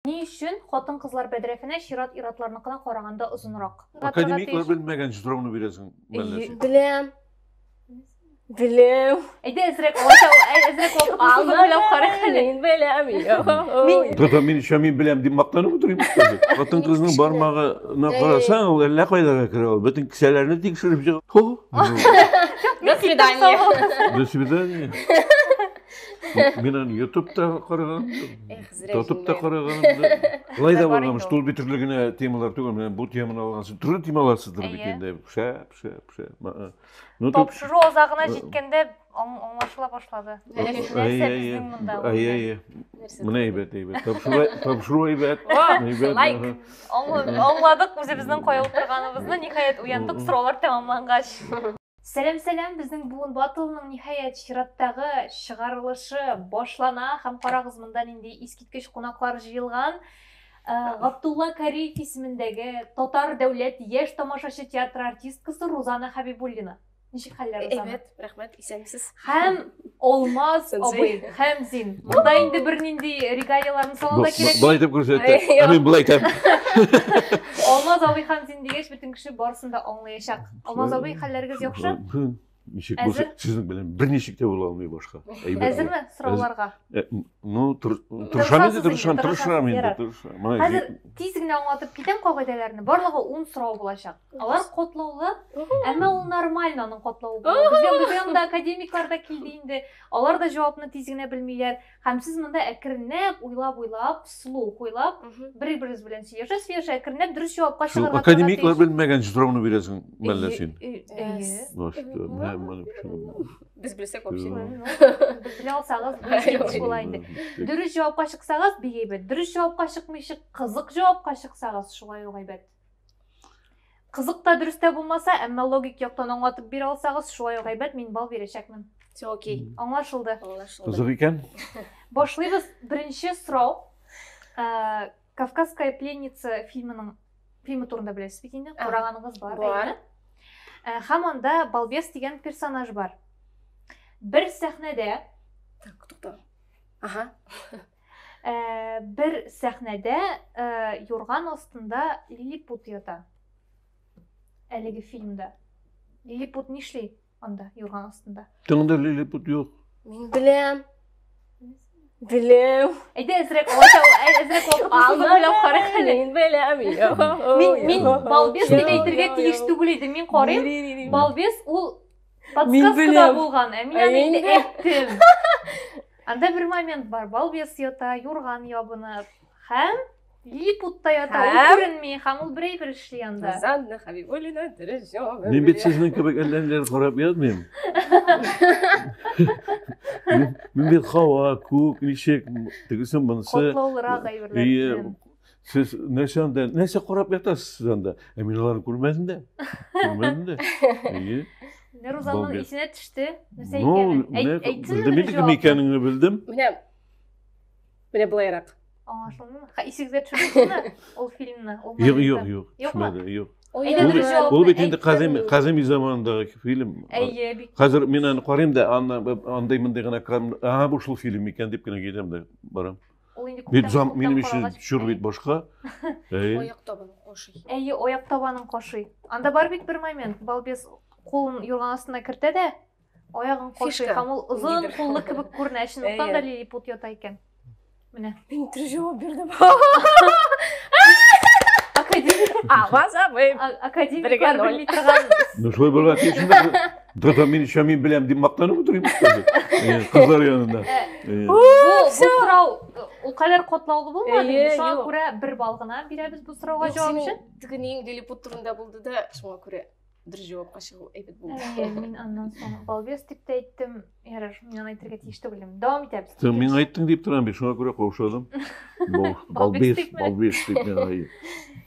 Ни өчен хатын-кызлар бәдрәфенә чират ир-атларныкына караганда озынрак? Академиклар белмәгән җитроны бирәсең мәлләсе. Беләм. Беләм. Әйдә әзрәк алача, әзрәк вакыт алып беләм карыйк әле. Мин беләм. Тата мин ишә мин беләм дип мактанып утырыйм. Хатын кызның бармагына карасаң, ул әллә кайларга керә ул. Бөтен кесәләрне тикшереп чыга. Хо. До свидания. До свидания. Мин аны ютубта караган. Зря Тотып та караганым да. Былай да булган, что ул бит төрле генә темалар түгел, менә бу теманы алган соң төрле темалар сыдырып бит инде. Пшә, пшә, пшә. Ну, Тапшыру азагына җиткәндә аңлашыла башлады. Нәрсә безнең монда? Ай, ай, ай. Менә әйбәт, әйбәт. Тапшыру әйбәт. Лайк. Аңладык үзебезнең кая утырганыбызны, ниһаять уяндык, сораулар тәмамлангач. Сәлам сәлам, безнең буын батылының ниһаять чираттагы чыгарылышы башлана һәм карагыз монда нинди искиткеч кунаклар җыелган. Э, Габдулла Кариев исемендәге Татар дәүләт яшь тамашачы театры артисткасы Рузана Хабибуллина. Ничек хәлләр Рузана? Әйбәт, рәхмәт, исәнмесез. Һәм Алмаз абый һәм Зин. Монда инде бернинди регалияләрне салу да кирәк. Былай итеп күрсәтте. Ә мин былай итәм. Алмаз абый һәм Зин дигәч, бөтен кеше барысын да аңлаячак. Алмаз абый, хәлләрегез яхшы? Ничек булса, сезнең белән берничек тә була алмый башка. Әзерме сорауларга? Э, ну, тырышам инде, тырышам, тырышам инде, тырышам. Хәзер тиз генә аңлатып китәм кагыйдәләрне. Барлыгы 10 сорау булачак. Алар котлаулы, әмма ул нормально аның котлавы. Безгә безгә анда академиклар да килде инде. Алар да җавапны тиз генә белмиләр. Һәм сез монда әкренләп, уйлап-уйлап, слу уйлап, бер-берегез белән сөйләшә-сөйләшә, әкренләп дөрес җавапка чыгарга тырышасыз. Академиклар белмәгән сорауны бирәсең, мәллә син. Без белсәк вообще. Белә алсагыз, дөрес була инде. Дөрес җавапка чыксагыз, бик әйбәт. Дөрес җавапка чыкмыйча, кызык җавапка чыксагыз, шулай ук әйбәт. Кызык та дөрес тә булмаса, әмма логик яктан аңлатып бирә алсагыз, шулай ук әйбәт, мин бал бирәчәкмен. Все окей. Аңлашылды. Аңлашылды. Кызык икән. Башлыйбыз. Беренче сорау. Э, Кавказская пленница фильмының фильмы турында беләсез бит инде. Караганыгыз бар. Бар. Э, һәм анда балбес дигән персонаж бар. Бер сәхнәдә Так, тукта. Ага. Ә, бер сәхнәдә ә, юрган астында лилипут ята. Әлеге фильмда. Лилипут нишли анда юрган астында? Тыңда лилипут юк. Мин беләм. Беләм. Әйдә әзрәк алача, әзрәк вакыт уйлап карыйк әле. Мин беләм. Мин мин балбес дип әйтергә тиеш түгел иде. Мин карыйм. Балбес ул Подсказкада булган, ә мин аны инде әйттем. Анда бер момент бар, балбес ята, юрган ябынып, һәм липутта ята, ул күренми, һәм ул берәй бер эшли анда. Занна Хабибулина, дөрес җавап. Мин бит сезнең кебек әлләнеләр карап язмыйм. Мин бит һава, күк, ничек, тегесе монысы. Котлаулырак әйберләр. Сез нәрсә анда, нәрсә карап ятасыз сез анда? Ә мин аларны күрмәдем дә. Күрмәдем дә. Әйе. Рузаның исенә төште. Нәрсә икәнен. Әйтсен. Белдем инде кем икәнеңне белдем. Менә Менә былайрак. Аңлашылдымы? Ха, исегезгә төшердеңме ул фильмны? Юк, юк, юк. Юкмы? Юк. Ул бит инде Казим Казим заманындагы фильм. Әйе, бик. Хәзер мин аны карыйм да, анда андый мондый гына, а бу шул фильм икән дип кенә китәм дә барам. Ул инде Бит күптән замк минем өчен каралгач- чор бит башка. Әй. Аяк табын коши. Әйе, аяк табанын кашый. Анда бар бит бер момент. Балбес кулын юрган астына кертә дә, аягын кашый Фишка. һәм ул озын Нидер. куллы кебек күренә. Чынлыктан Әйе. да лилипут ята икән. Менә. Мин төр җавап бирдем. Академик, Ага, забыйм. а- академиклар Бергә ноль. белми торган Ну шулай булган тиеш инде. Да-да, мин еще мин беләм дип мактанып утырыйм кызы. Э, Кызлар янында. Э, Бу бу сорау ул кадәр катлаулы булмады. Әйе, Шуңа юк. күрә бер балл гына бирәбез бу сорауга җавап өчен. Теге нең лилипут турында булды да, шуңа күрә дөрес җавапка чыгу әйбәт булды. Әйе, мин аннан соң балбес дип тә әйттем. Ярар, мин аны әйтергә тиеш түгел идем. Дәвам итәбез. Ты мин айттың дип торам бит, шуңа күрә каушадым. Бал- Балбес Балбес дипме? дип миңа.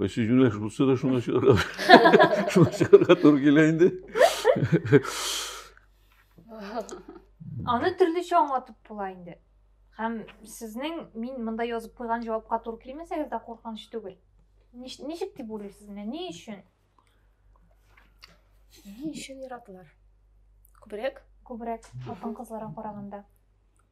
Бай сүзмиләш булса да шуны чыгарга, шуны чыгарга туры килә инде. Аны төрлечә аңлатып була инде. Һәм сезнең мин монда язып куйган җавапка туры килмәсәгез дә куркыныч түгел. Ничек дип уйлыйсыз менә ни өчен? Ни өчен яраталар? Күбрәк? Күбрәк хатын-кызларга караганда.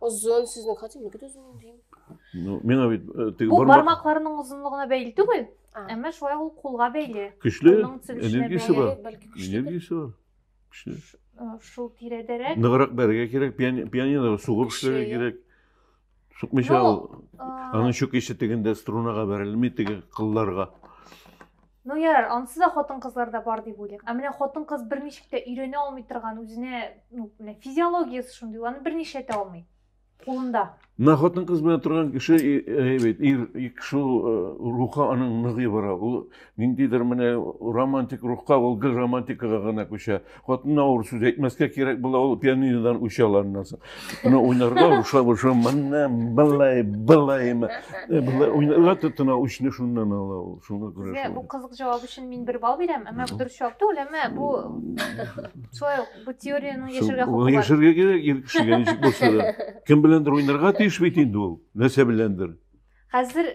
Озын сезнең хәтер ниге дә озын дим. Ну, миңа бит э, теге Бу бармак бармакларның озынлыгына бәйле түгел, А. әмма шулай ук кулга бәйле. көчле, Аның төзелешенә энергиясе бәйле. бар. Бәлки- Бәлки көчле. энергиясе бар. Көчле. Э, Шул тирәдәрәк. Ныграк бәргә кирәк, пиани- пианино сугып Көчле, эшләргә я. кирәк. Сукмыйча Ну, ул. Э, Аның чүкече тегендә струнага бәрелми, теге кылларга. Ну ярар, ансыз да хатын-кызлар да бар дип уйлыйк. Ә менә хатын-кыз берничек тә өйрәнә алмый торган үзенә, ну, менә физиологиясе шундый, аны берничә тә алмый. Кулында. Менә хатын-кыз белән торган кеше, әйбәт, ир, шул э, рухы аның ныгый бара. Ул ниндидер менә романтик рухка, ул гел романтикага гына күчә. Хатынына авыр сүз әйтмәскә кирәк була ул пианинодан үч алганнан соң. Аны уйнарга урышлап урышлап мына былай былай былай уйнарга тотына үчне шуннан ала ул. Шуңа күрә. Сезгә бу кызык җавап өчен мин бер балл бирәм, әмма дөрес җавап түгел, әмма бу шулай ук бу теорияне яшәргә хокукы бар. Яшәргә кирәк ир кешегә ничек булса да. Кем беләндер уйнарга тиеш бит инде ул. Нәрсә беләндер. Хәзер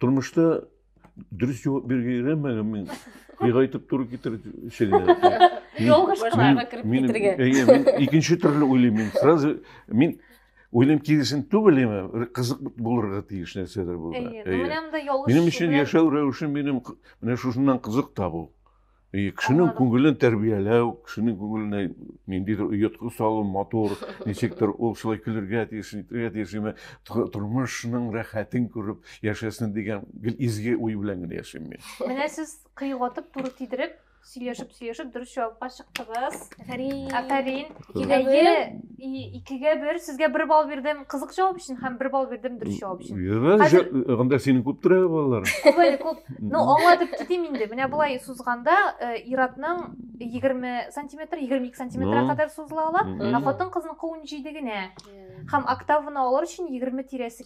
Тормышта дөрес җавап бирергә өйрәнмәгән мин. Ни гайтып туры китер шегенә. Ялгыш кыларга кереп китергә. Әйе, мин икенче төрле уйлыйм мин. Сразу мин уйлыйм киресен түгел имә, кызык булырга тиеш нәрсәдер булды. Әйе, менә монда ялгыш. Минем өчен яшәү рәвешем минем менә шушыннан кызык табу. И кешенең күңелен тәрбияләү, кешенең күңеленә ниндидер оятка салу, матур, ничектер ул шулай көлергә тиеш, итергә тиеш, ме, тормышның рәхәтен күреп яшәсен дигән гел изге уй белән генә яшим мин. Менә сез кыйгатып, туры тидереп, сөйләшеп-сөйләшеп дөрес җавапка чыктыгыз. Афәрин. Афәрин. Әйе. икегә бер сезгә бер балл бирдем кызык жауап өчен һәм бер балл бирдем дөрес жауап өчен анда синең күп тора балалар күп әле күп ну аңлатып китим инде менә болай сузганда э, ир атның егерме сантиметр егерме ике сантиметрга ну. кадәр сузыла ала ә хатын кызның кылын җиде генә һәм октаваны алыр өчен егерме тирәсе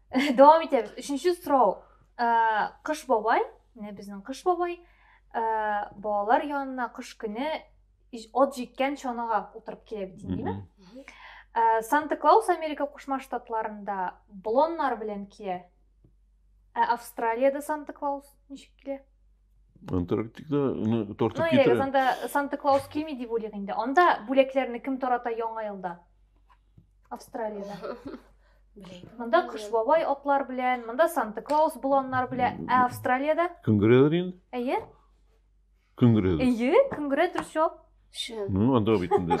дәвам итәбез өченче сорау кыш бабай менә безнең кыш бабай балалар янына кыш көне от җиткән чанага утырып килә бит инде Ә, санта клаус америка кушма штатларында блоннар белән килә ә австралияда санта клаус ничек килә антарктикада уны тартып китерә санта клаус килми дип уйлыйк инде анда бүләкләрне кем тарата яңа елда Австралияда. Монда Кыш бабай атлар белән, монда Санта Клаус боланнар белән, ә Австралияда? Күңгерәләр инде. Әйе. Күңгерәләр. Әйе, күңгерә дөрес җавап. Шын. Ну, анда бит инде.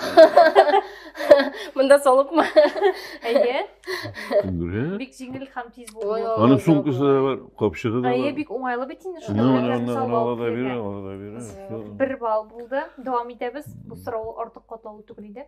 Монда салыпмы? Әйе. Күңгерә. Бик җиңел һәм тиз булды. Аның сумкасы да бар, капчыгы да бар. Әйе, бик уңайлы бит инде шуны. Менә аны ала да бирә, ала да бирә. Бер балл булды. Дәвам итәбез. Бу сорау артык катлаулы түгел иде.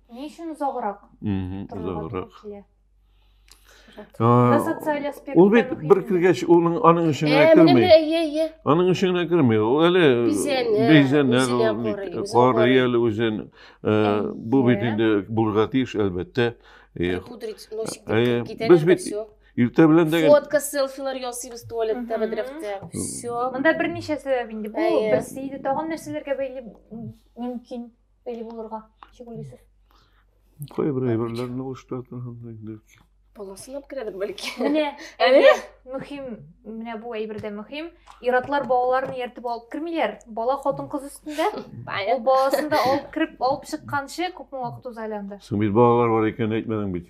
Ни өчен озаграк? Озаграк. Социаль аспект. Ул бит бер кергәч, улның аның эшенә керми. Аның эшенә керми. Ул әле бизәнә, карый әле үзен. Бу бит инде булырга тиеш, әлбәттә. Пудрить, носик, китәләр дә все. Иртә белән дә Фотка, селфилар ясыйбыз туалетта, бәдрәфтә. Все. Монда берничә сәбәп инде. Бу берсе иде. Тагын нәрсәләргә бәйле мөмкин? Бәли булырга, ничек уйлыйсыз? Кайбер әйберләрне уштыратын һәм инде. Баласына керәдер бәлки. Менә әйе, мөһим, менә бу әйбер дә мөһим. Иратлар балаларын ияртеп алып кермиләр. Бала хатын-кыз өстендә. Ул баласын да алып кереп, алып чыкканчы күпме вакыт уза әле анда. Соң бит балалар бар икән әйтмәдең бит.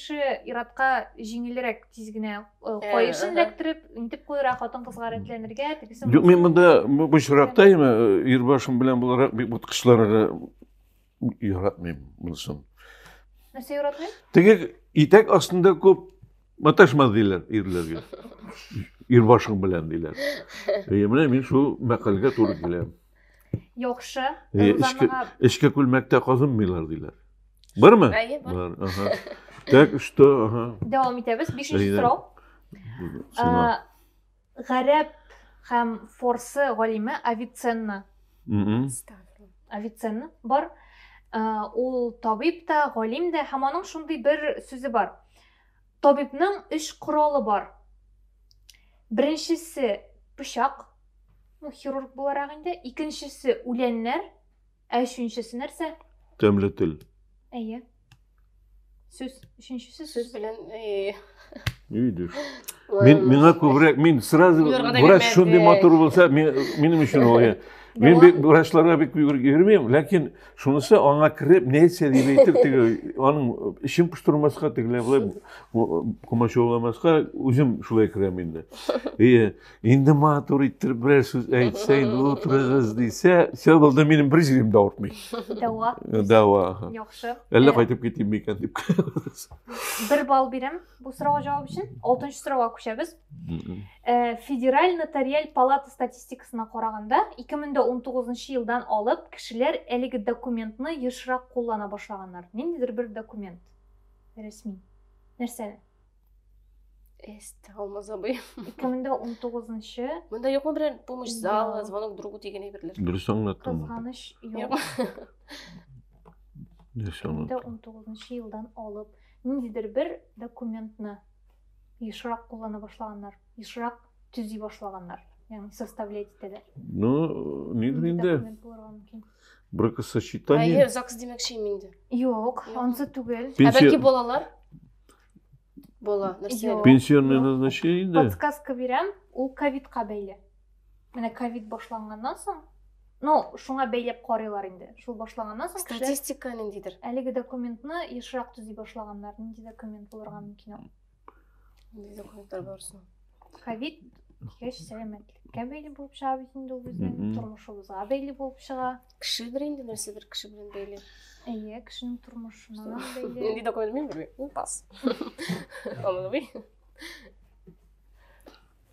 кеше иратка җиңелрәк тиз генә каешын эләктереп, интеп куера, хатын-кызга рәтләнергә, тегесе. Юк, мин монда бу очракта ир башым белән буларак бик боткычларга яратмыйм монысын. Нәрсә яратмыйм? Теге итәк астында күп маташма диләр ирләргә. Ир башың белән диләр. Менә мин шул мәкальгә туры киләм. Яхшы. Э, эчке, эчке күлмәктә казынмыйлар диләр. Бармы? Әйе, бар. бар. Ага. Так, что? Ага. Дәвам итәбез. Бишенче сорау. Гарәп һәм форсы галиме Авиценна. Авиценна бар. Ул табиб та, галим дә һәм аның шундый бер сүзе бар. Табибның өч коралы бар. Беренчесе пычак, ну хирург буларак инде, икенчесе үләннәр, ә өченчесе нәрсә? Тәмле тел. Әйе. Сүз, өченчесе сүз. Сүз белән э, Видишь. Мин, миңа күбрәк, мин сразу врач шундый матур булса, минем өчен ул. Мин бик врачларга бик йөрмим, ләкин Шунысы аңа кереп, нәрсә дип әйтер теге, аның эчен пыштырмаска, тегеләй былай комачауламаска үзем шулай керәм инде. Ие, инде матур иттереп берәр сүз әйтсә, инде утырыгыз дисә, все булды, минем бер җирем дә авыртмый. Дәва. Дәва. Яхшы. Әллә кайтып китим микән дип. Бер балл бирәм бу сорауга җавап өчен. Алтынчы сорауга күчәбез. Э, федераль нотариаль палата статистикасына караганда 2019 елдан алып кешеләр әлеге документны ешрак куллана башлаганнар ниндидер бер документ рәсми нәрсәне алмаз абый ике мең дә он тоғызынчы мында юкмы берәр помощь залы звонок другу деген әйберләр дөрес аңлаттым кызганыш юк ике мең дә он тоғызынчы елдан алып ниндидер бер документны Ешрак куллана башлаганнар, ешрак төзи башлаганнар, ягъни составлять итәләр. Ну, нидер инде. Бракосочетание. Әйе, ЗАГС димәкче инде. Юк, ансы түгел. Ә бәлки балалар? Бала, нәрсә? Пенсионное назначение инде. Подсказка бирәм, ул ковидка бәйле. Менә ковид башланганнан соң, ну, шуңа бәйләп карыйлар инде. Шул башланганнан соң статистика ниндидер. Әлеге документны ешрак төзи башлаганнар. Нинди документ булырга мөмкин ул? Нинди документлар бар соң? Ковид кеш сәламәтлеккә бәйле булып чыга бит инде ул безнең тормышыбызга бәйле булып чыга. Кешедер инде нәрсә бер кеше белән бәйле. Әйе, кешенең тормышына бәйле. Нинди документ мин белмим. Пас. Аңлый.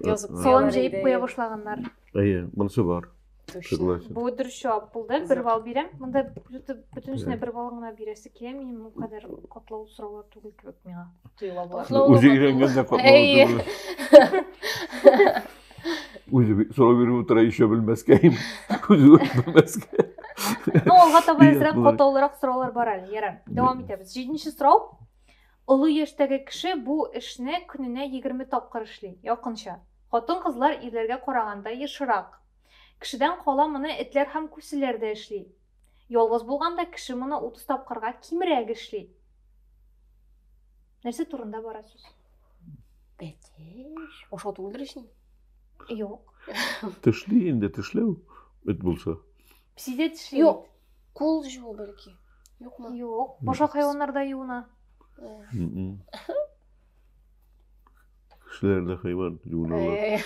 Язып Ә, Салам куялар җәеп иде. куя башлаганнар. Әйе, монысы бар. Точно. Согласен. Бу дөрес җавап булды. Бер балл бирәм. Монда бөтен- бөтенесенә бер балл гына бирәсе килә. Минем бу кадәр котлау сораулар түгел кебек миңа тоела болар. Котлау Үзе булмады. өйрәнгән дә котлау Әйе. түгел. Үзе би- сорау биреп утыра, еще белмәскә, үзе белмәскә. Ну, алга таба Ия, әзрәк болай. катлаулырак сораулар бар әле. Ярар. Дәвам итәбез. Җиденче сорау. Олы яшьтәге кеше бу эшне көненә егерме тапкыр эшли, якынча. Хатын-кызлар ирләргә караганда ешрак. Кешедән кала моны этләр һәм күселәр дә эшли. Ялгыз булганда кеше моны утыз тапкырга кимрәк эшли. Нәрсә турында бара сүз? Бәтеш. Ашау түгелдер өчен? Юк. Тешли инде, тешләү эт булса. Псиде тешләү. Юк. Кул жуу бәлки. Юкмы? Юк. Башка хайваннар да юына. Кешеләр дә хайван юыналар.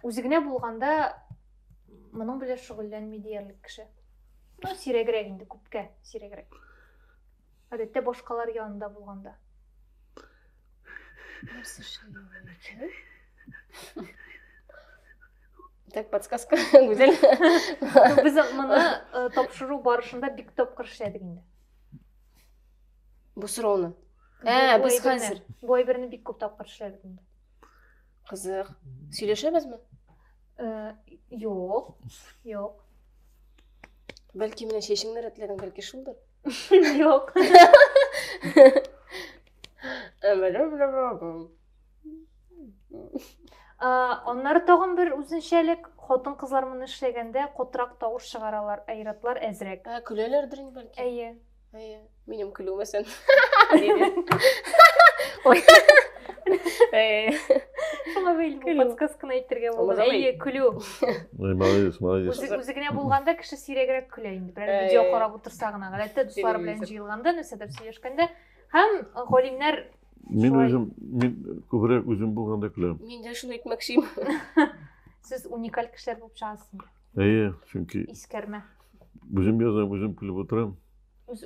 Үзе генә булганда моның белән шөгыльләнми диярлек кеше. Ну, сирәгрәк инде, күпкә сирәгрәк. Гадәттә башкалар янында булганда. Нәрсә эшләгән? Так, подсказка, Гүзәл. Без моны э, тапшыру барышында бик тапкыр эшләдек инде. Бу сорауны. Ә, без хәзер. Бу әйберне бик күп тапкыр эшләдек инде. Кызык. Сөйләшәбезме? Э, юк. Юк. Бәлки менә чәчеңне рәтләдең, бәлки шулдыр? Yok. Аннары тагын бер үзенчәлек, хатын кызлар моны эшләгәндә котрак тавыш чыгаралар, айратлар әзрәк. Ә көләләрдер инде бәлки. Әйе. Әйе. Минем көлүемә сен. Ой. Шуңа бәйле бу подсказканы әйтергә булды. Әйе, көлү. Молодец, молодец. Үзе генә булганда кеше сирәгрәк көлә инде берәр видео карап утырса гына гадәттә дуслары белән җыелганда нәрсәдер сөйләшкәндә һәм галимнәр мин үзем мин күбрәк үзем булганда көләм мин дә шуны әйтмәкче сез уникаль кешеләр булып чыгасыз әйе чөнки искәрмә үзем язам үзем көлеп утырам үз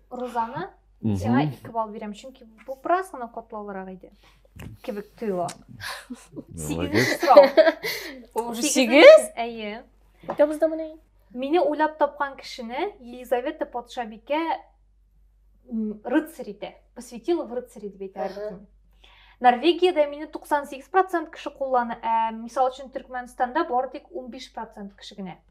розаны сиңа ике балл бирәм чөнки бу бераз гына катлаулырак иде кебек тоела сигезенче сорау уже сигез әйе итәбез да менә мине уйлап тапкан кешене елизавета патшабикә рыцарь итә посвятила в рыцари дип әйтә норвегияда мине 98 процент кеше куллана ә мисал өчен төркмәнстанда бары тик 15 процент кеше генә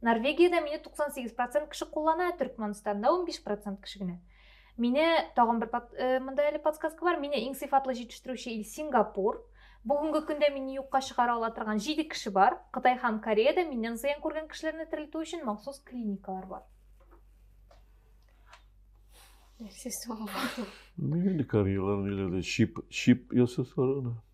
Норвегиядә мине 98% кеше куллана, Төркмәнстанда 15% кеше генә. Мине тагын бер э, монда әле подсказка бар. Мине иң сыйфатлы җитештерүче ил Сингапур. Бүгенге көндә мине юкка чыгара ала торган 7 кеше бар. Кытай һәм Кореядә миннән зыян күргән кешеләрне терелтү өчен махсус клиникалар бар. Нәрсә соң? Нигә Кореялар ниләрдә чип чип ясасалар гына?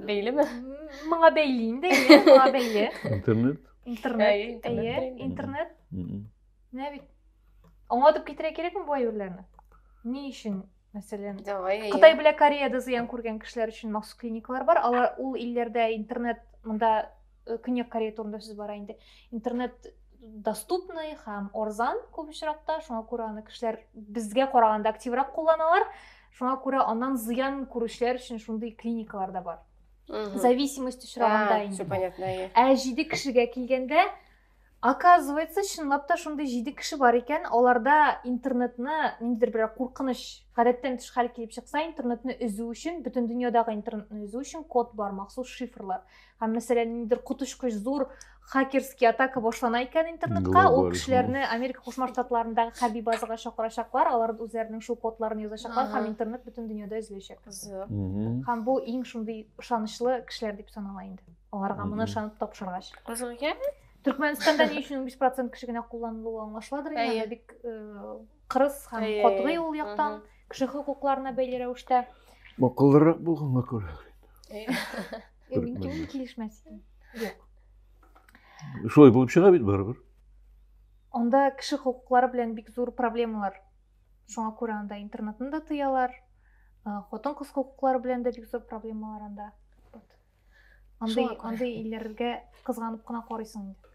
Бәйле ме? Моңа бәйле инде, әйе, моңа бәйле. Интернет? Интернет, әйе, интернет. Менә бит. Аңлатып китерә кирәкме бу әйберләрне? Ни өчен мәсәлән кытай белән кореяда зыян күргән кешеләр өчен махсус клиникалар бар алар ул илләрдә интернет мында Э, көньяк корея турында сүз бара инде интернет доступный һәм орзан күп очракта шуңа күрә аны кешеләр безгә караганда активрак кулланалар шуңа күрә аннан зыян күрүчеләр өчен шундый клиникалар да бар зависимость очрагында инде ә җиде кешегә килгәндә Оказывается, чынлап та шундый җиде кеше бар икән, аларда интернетны ниндидер бер куркыныч, гадәттән тыш хәл килеп чыкса, интернетны өзү өчен, бөтен дөньядагы интернетны үзү өчен код бар, махсус шифрлар. Һәм мәсәлән, ниндидер коточкыч зур хакерский атака башлана икән интернетка, ул кешеләрне Америка Кушма Штатларындагы хәрби базага чакырачаклар, алар үзләренең шул кодларын язачаклар һәм интернет бөтен дөньяда өзеләчәк. Һәм бу иң шундый ышанычлы кешеләр дип санала инде. Аларга моны ышанып тапшыргач. Кызылгә? Төркмәнстанда ни өчен 5% кеше генә кулланылуы аңлашыладыр инде, бик кырыс һәм катгый ул яктан кеше хокукларына бәйле рәвештә. Акыллырак булганга күрә. Мин килешмәс идем. Юк. Шулай булып чыга бит барыбер. Анда кеше хокуклары белән бик зур проблемалар. Шуңа күрә анда интернетны да тыялар. Хатын-кыз хокуклары белән дә бик зур проблемалар анда. андый андый илләргә кызганып кына карыйсың инде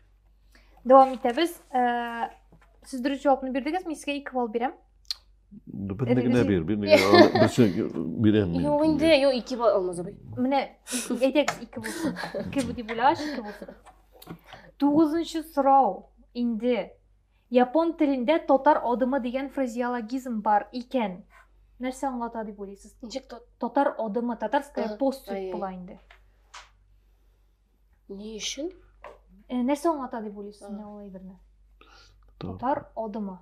дәвам итәбез э, сез дөрес җавапны бирдегез мин сезгә ике балл бирәм берне генә бир берне генә берсе бирәм мин юк инде юк ике балл алмаз абый менә әйдәгез ике булсын ике дип уйлагач ике булсын тугызынчы сорау инде Япон телендә татар адымы дигән фразеологизм бар икән. Нәрсә аңлата дип уйлыйсыз? Ничек татар адымы, татарская поступь була инде. Ни өчен? Э, нәрсә аңлата дип уйлыйсыз менә ул әйберне? Татар адымы.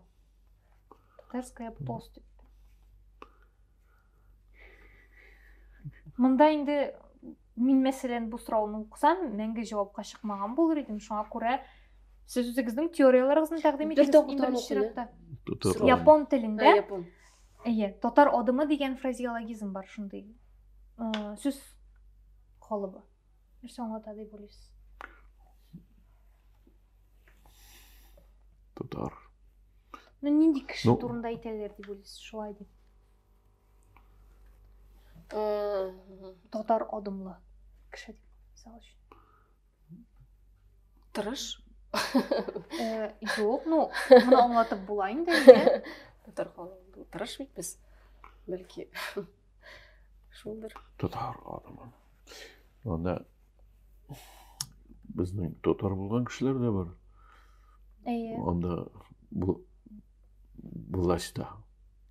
Татарская поступь. Монда инде мин мәсәлән бу сорауны укысам, мәңге җавапка чыкмаган булыр идем. Шуңа күрә сез үзегезнең теорияләрегезне тәкъдим итегез. Бер Япон телендә. Әйе, татар адымы дигән фразеологизм бар шундый. Э, сүз холыбы. Нәрсә аңлата дип уйлыйсыз? Татар. Ну, нинди кеше ну, турында әйтәләр дип уйлыйсыз, шулай дип. Татар адымлы кеше дип, мисал өчен. Тырыш. Юк, ну, моны аңлатып була инде. Татар халкы тырыш бит без. Бәлки шулдыр. Татар адымы. Анда безнең татар булган кешеләр дә бар. Әйе. Анда бу властьта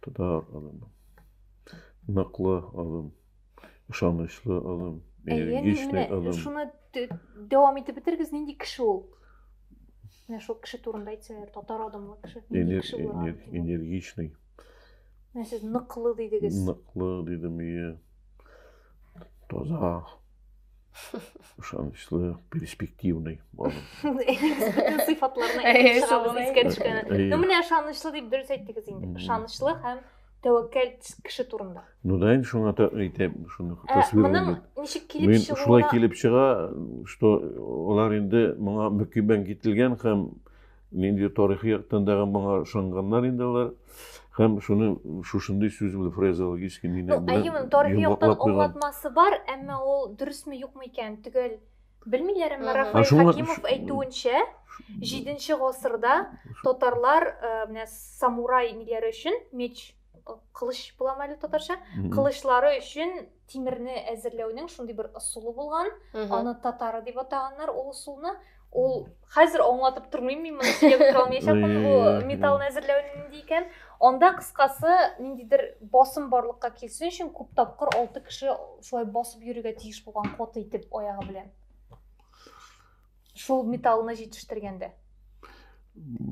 Тотар адым. Ныклы адым. Ышанычлы адым. Энергичный адым. Шуны дәвам итеп бетергез, нинди кеше ул? Менә шул кеше турында әйтсәләр, татар адымлы кеше. Нинди кеше була? Энергичный. Менә сез ныклы дидегез. Ныклы дидем, ие. Таза. ышанычлы перспективный балым сыйфатларына ну менә ышанычлы дип дөрес әйттегез инде ышанычлы һәм тәвәккәл кеше турында ну да инде шуңа әйтәм шуны моның ничек килеп чыгуына шулай килеп чыга что алар инде моңа мөкиббән кителгән һәм Нинди тарихи яктан да моңа ышанганнар инде алар. Һәм шуны шушындый сүз белән фразеологически мине ну, белән Әйемен, тарихи яктан аңлатмасы бар, әмма ул дөресме юкмы икән төгәл белмиләр, әмма Рафаэль Хакимов әйтүенчә, 7 гасырда татарлар э, менә самурай ниләре өчен меч э, кылыч буламы әле татарча? Кылычлары өчен тимерне әзерләүнең шундый бер ысулы булган аны татары дип атаганнар ул ысулны ул хәзер аңлатып тормыйм мин моны сөйләп тора алмаячакмын бу металлны әзерләү нинди икән анда кыскасы ниндидер басым барлыкка килсен өчен күп тапкыр алты кеше шулай басып йөрергә тиеш булган каты итеп аягы белән шул металлны җитештергәндә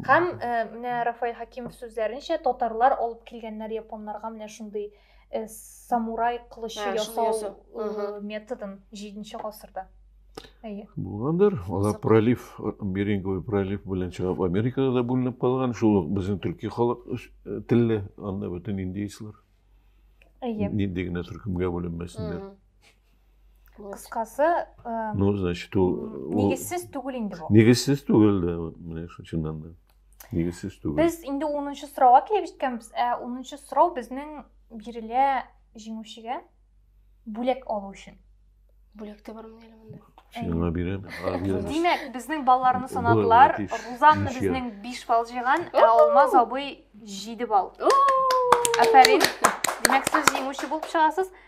һәм э, менә рафаэль хакимов сүзләренчә татарлар алып килгәннәр японнарга менә шундый э, самурай кылычы ә, ясау э, методын җиденче гасырда әйе булгандыр алар пролив беринговый пролив белән чыгып америкага да бүленеп калган шул ук безнең төрки халык телле анда бөтен индейцлар әйе нинди генә төркемгә бүленмәсеннәр Кыскасы, э, ну, значит, ул нигезсез түгел инде бу. Нигезсез түгел дә, менә шул чыннан да. Нигезсез түгел. Без инде 10нчы сорауга килеп җиткәнбез. Ә 10нчы сорау безнең бирелә җиңүчегә бүләк алу өчен. Бүләк тә бармы әле монда? Сиңа бирәм. Димәк, безнең балаларны санадылар. Рузанна безнең 5 балл җыйган, ә Алмаз абый 7 балл. Афәрин. Димәк, сез җиңүче булып чыгасыз.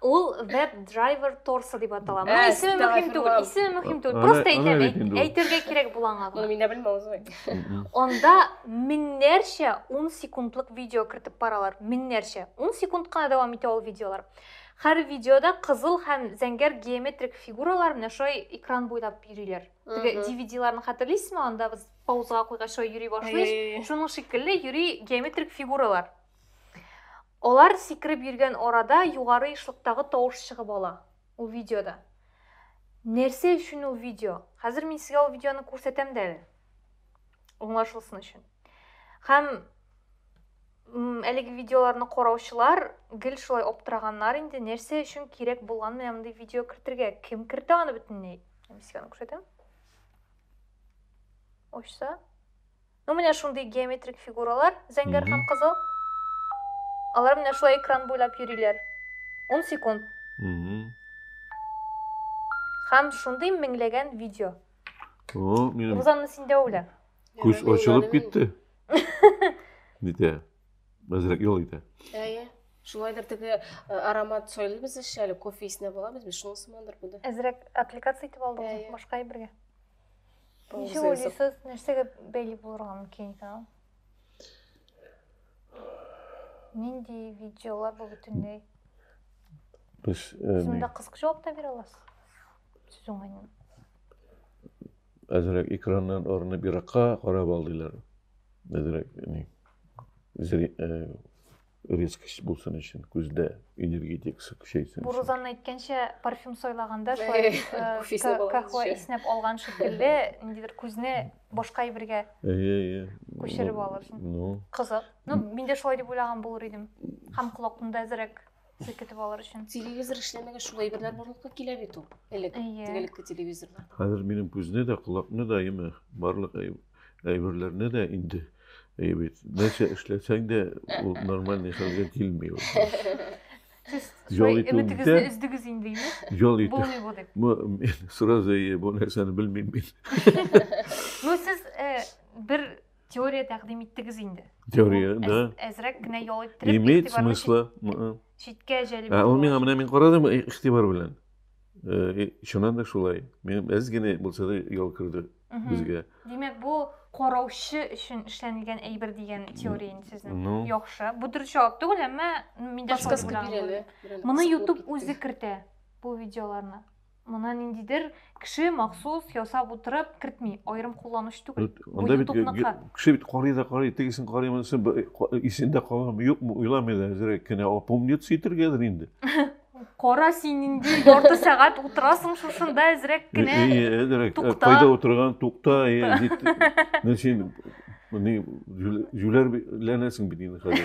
ул веб драйвер торсы дип атала моның ә, исеме мөһим түгел исеме мөһим түгел просто әйтәм әйтергә кирәк була аңа моны мин дә белмим узмый анда меңнәрчә ун секундлык видео кертеп баралар меңнәрчә ун секунд кына дәвам итә ул видеолар һәр видеода кызыл һәм зәңгәр геометрик фигуралар менә шулай экран буйлап йөриләр теге dvd-ларны хәтерлисезме анда без паузага куйгач шулай йөри башлый шуның шикелле йөри геометрик фигуралар Алар сикереп йөргән арада югары ешлыктагы тавыш чыгып ала ул видеода. Нәрсә өчен ул видео? Хәзер мин сезгә ул видеоны күрсәтәм дә әле. Аңлашылсын өчен. Һәм әлеге видеоларны караучылар гел шулай аптыраганнар инде, нәрсә өчен кирәк булган менә мондый видео кертергә? Кем кертә аны бөтенләй? Мин сезгә аны күрсәтәм. Ачса, Ну, менә шундый геометрик фигуралар, зәңгәр һәм кызыл. Алар менә шулай экран буйлап йөриләр. Ун секунд. Һәм шундый меңләгән видео. О, минем... Рузанна, син дә үлә. Күз очылып китте. Дитә. Әзрәк юл итә. Әйе. Шулайдыр теге э, аромат сөйлибез әле, кофе исенә буламыз без, шунысы мандыр бу да. Әзрәк аппликация итеп алдыгыз, башка әйбергә. Ничек уйлыйсыз, нәрсәгә бәйле булырга мөмкин икән ул? Нинди видеолар бу бөтенләй? Без э, Шунда кыска җавап та бирә аласыз. Сез уңайны. Әзрәк экраннан орынып еракка карап алдылар. Әзрәк ни. Зри, э, резкость булсын өчен, күздә энергетикасы көчәйсен. Бу Рузанна әйткәнчә, парфюм сайлаганда шулай кахва иснәп алган шикелле, ниндидер күзне башка әйбергә күчереп алырсың. Ну. Кызык. Ну, мин дә шулай дип уйлаган булыр идем. Һәм колакны да әзрәк селкетеп алыр өчен. Телевизор эшләмәгә шул әйберләр барлыкка килә бит ул. Элек, тегелекке телевизорлар. Хәзер минем күзне дә, колакны да, яме, барлык әйберләрне дә инде әйе бит нәрсә эшләсәң дә ул нормальный хәлгә килми ул жол итүендә өздегез инде жол итү мен сразу әйе бу нәрсәне белмим мин ну сез бер теория тәкъдим иттегез инде теория да әзрәк кенә ял иттереп имеет смысла читкә җәлеп ә ул миңа менә мин карадым игътибар белән чыннан да шулай әз генә булса да ял керде безгә димәк бу караучы өчен эшләнелгән әйбер дигән теория инде сезнең ну яхшы бу дөрес җавап түгел әмма мин дә моны ютуб үзе кертә бу видеоларны моны ниндидер кеше махсус ясап утырып кертми аерым кулланучы түгел анда бит кеше бит карый да карый тегесен карый монысын исендә каламы юкмы уйламый да әзрәк кенә опомниться итәргәдер инде Кара син инде ярты сәгать утырасың шушында әзрәк кенә. Әзрәк. Тукта. Кайда утырган? Тукта. Менә син моны җүләрләнәсең бит инде хәзер.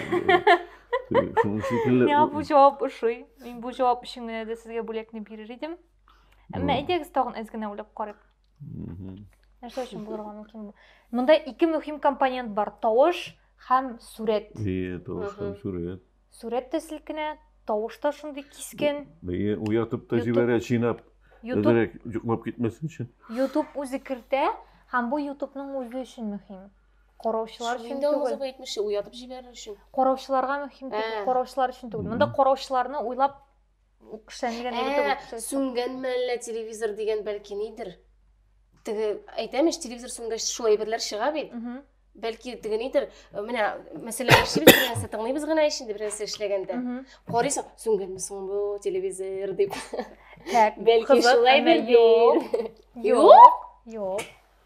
Шуның шикелле. Миңа бу җавап ошый. Мин бу җавап өчен генә дә сезгә бүләкне бирер идем. Әмма әйдәгез тагын әз генә уйлап карыйк. Нәрсә өчен булырга мөмкин бу? Монда ике мөһим компонент бар, тавыш һәм сурәт. Ие, тавыш һәм сурәт. Сурәт тә селкенә, тавыш та шундый кискен. Бәйе уятып та җибәрә, чинап. Дөрек йоклап китмәсен өчен. YouTube үзе кертә, һәм бу YouTube-ның үзе өчен мөһим. Караучылар өчен түгел. Windows 70 уятып җибәрер өчен. Караучыларга мөһим түгел, караучылар өчен түгел. Монда караучыларны уйлап Ул кешеләрне генә итеп Ә, үксәтә. сүнгәнме әллә телевизор дигән бәлки нидер? Теге әйтәм ич, телевизор сүнгәч шул әйберләр чыга бит. Мгм. Бәлки теге нидер, э, менә мәсәлән, яшибез бер нәрсә тыңлыйбыз гына ич инде бер нәрсә эшләгәндә. Мгм. Карыйсың, сүнгәнме соң бу телевизор дип. Так, Бәлки кызык, шулай әмма бер юк. Юк. Юк.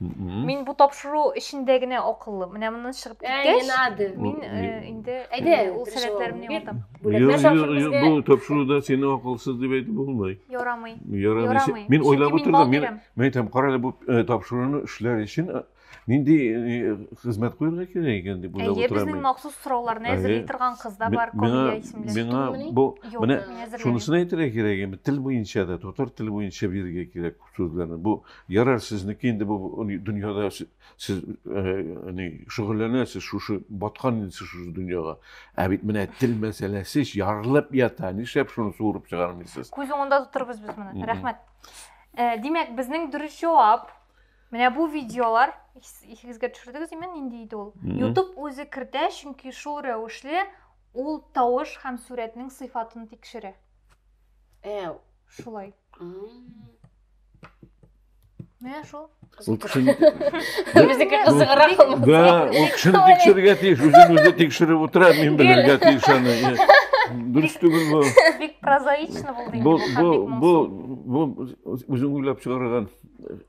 Мин бу тапшыру эчендә генә акыллы. Менә моннан чыгып киткәч, мин инде әйдә, ул сәләтләремне югалтам. Бу тапшыруда сине акылсыз дип әйтеп булмый. Ярамый. Ярамый. Мин уйлап утырдым, мин мин әйтәм, кара әле бу тапшыруны эшләр өчен нинди хезмәт куярга кирәк икән дип уйлап утырам. Әйе, безнең махсус сорауларны әзерли торган кыз да бар, Камилә исемле. Миңа бу менә шунысын әйтергә кирәк, тел буенча да, татар теле буенча бирергә кирәк. сүзләрне. Бу ярар сезнеке инде бу дөньяда сез ни шөгыльләнәсез шушы баткан инде сез шушы дөньяга. Ә бит менә тел мәсьәләсе ярылып ята. Нишләп шуны суырып чыгармыйсыз? Күз уңында тотырбыз без моны. Рәхмәт. Димәк, безнең дөрес җавап Менә бу видеолар исегезгә төшердегез имен нинди иде ул? YouTube үзе кертә, чөнки шул рәвешле ул тавыш һәм сурәтнең сыйфатын тикшерә. Э, Шулай. Менә шул. Ул кеше ник- Безнеке Бу- кызыграк ул. Да, ул кешене Ой. тикшерергә тиеш, үзен үзе тикшереп утыра, мин белергә тиеш аны. Е, Дөрес түгел бу. Бик прозаично булды. Бу, инде, бу, Мөхәббит бу, моңсу. бу үзең уйлап чыгарган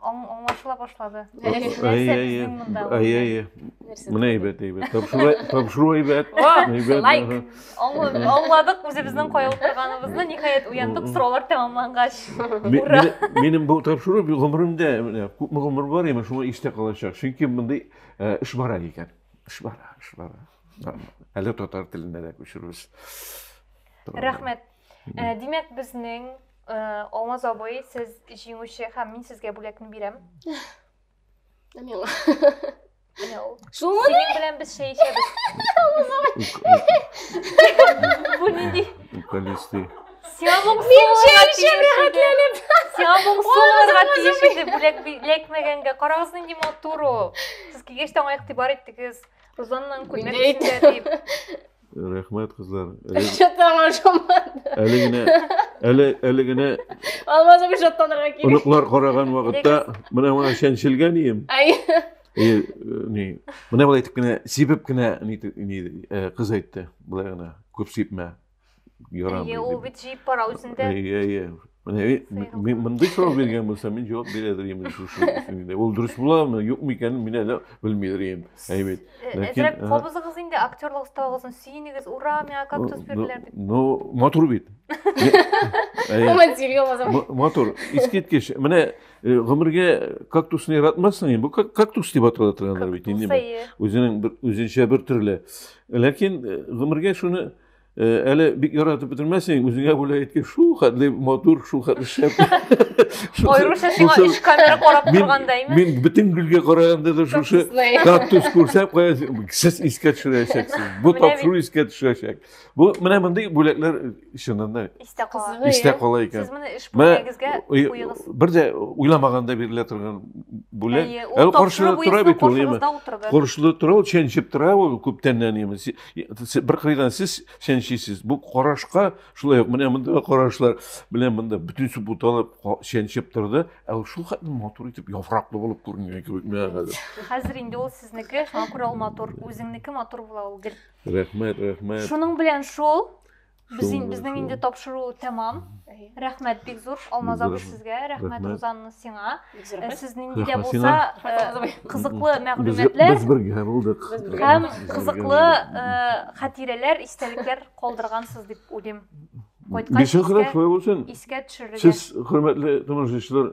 Аңлашыла башлады. Әйе, Менә әйбәт, әйбәт. Тапшыру әйбәт. Лайк. Аңладык үзебезнең кая утырганыбызны, ниһаять уяндык сораулар тәмамлангач. Ура. Минем бу тапшыру гомеремдә күпме гомер бар, яме шуңа истә калачак. Чөнки мондый эш бара икән. Эш бара, эш бара. Әле татар теленә дә күчерүбез. Рәхмәт. Ә, димәк, безнең э, Алмаз абый, сез җиңүче һәм мин сезгә бүләкне бирәм. Ә миңа. Менә ул. Шулмы? Синең белән без чәй эчәбез. Бу нинди? Укалисты. Сиңа моңсуларга тиешли. Сиңа моңсуларга тиешли бүләк бүләкмәгәнгә. Карагыз нинди матур ул. Сез килгәч тә аңа игътибар иттегез. Рузанның күлмәк Нинди? эчендә дип. Рәхмәт, кызлар. Шаттан ашамады. Әле генә әле әле генә Алмаз абый шаттанырга кирәк. Оныклар караган вакытта менә моңа чәнчелгән ием. Ай. И э, ни, менә болай итеп кенә сибеп кенә ни ни э, кыз әйтте. Болай гына күп сипмә. Ярам. Ие, ул бит җиеп бара үзендә. Ие, ие. Менә э, мин мондый сорау биргән булсам, мин җавап бирә дөрим шушы инде. Ул дөрес буламы, юкмы икәнен мин әле белми дөрим. Әйбәт. Э, Ләкин кабызыгыз инде актерлык осталыгын сөенегез. Ура, миңа кактус бирделәр дип. Ну, матур бит. Матур. Искиткеч. Менә э, гомергә кактусны яратмассың инде. Бу кактус дип атала торганнар бит инде. Үзенең бер үзенчә бер төрле. Ләкин гомергә шуны Э, әле бик яратып бетермәсең, үзеңә бүләк иткән шул хәтле матур, шул хәтле шәп. Аеруча сиңа өч камера карап торгандаймы? Мин бөтен гөлгә караганда да шушы кактус күрсәм, кая сез искә төшерәчәксез. Бу тапшыру искә төшерәчәк. Бу менә мондый бүләкләр чыннан да истә кала. Истә кала икән. Сез моны эш бүләгегезгә куегыз. Бер дә уйламаганда бирелә торган бүләк. Әле каршыда тора бит ул, яме. Каршыда тора ул, чәнчеп тора ул күптәннән яме. бер кырыйдан сез чәнчисез бу карашка шулай ук менә мондагы карашлар белән монда бөтенесе буталып чәнчеп торды ә ул шулкадәр матур итеп яфраклы булып күренгән кебек миңа хәзер хәзер инде ул сезнеке шуңа күрә ул матур үзеңнеке матур була ул гел рәхмәт рәхмәт шуның белән шул Без ин, безнең инде тапшыру тәмам. Рәхмәт бик зур Алмаз абый сезгә, рәхмәт Рузанна сиңа. Э, сез нинди дә булса э, кызыклы мәгълүматлар. Без бергә булдык. Һәм кызыклы э, хатирәләр, истәлекләр калдыргансыз дип уйлыйм. Кайткач, искә төшерергә. Сез хөрмәтле томашачылар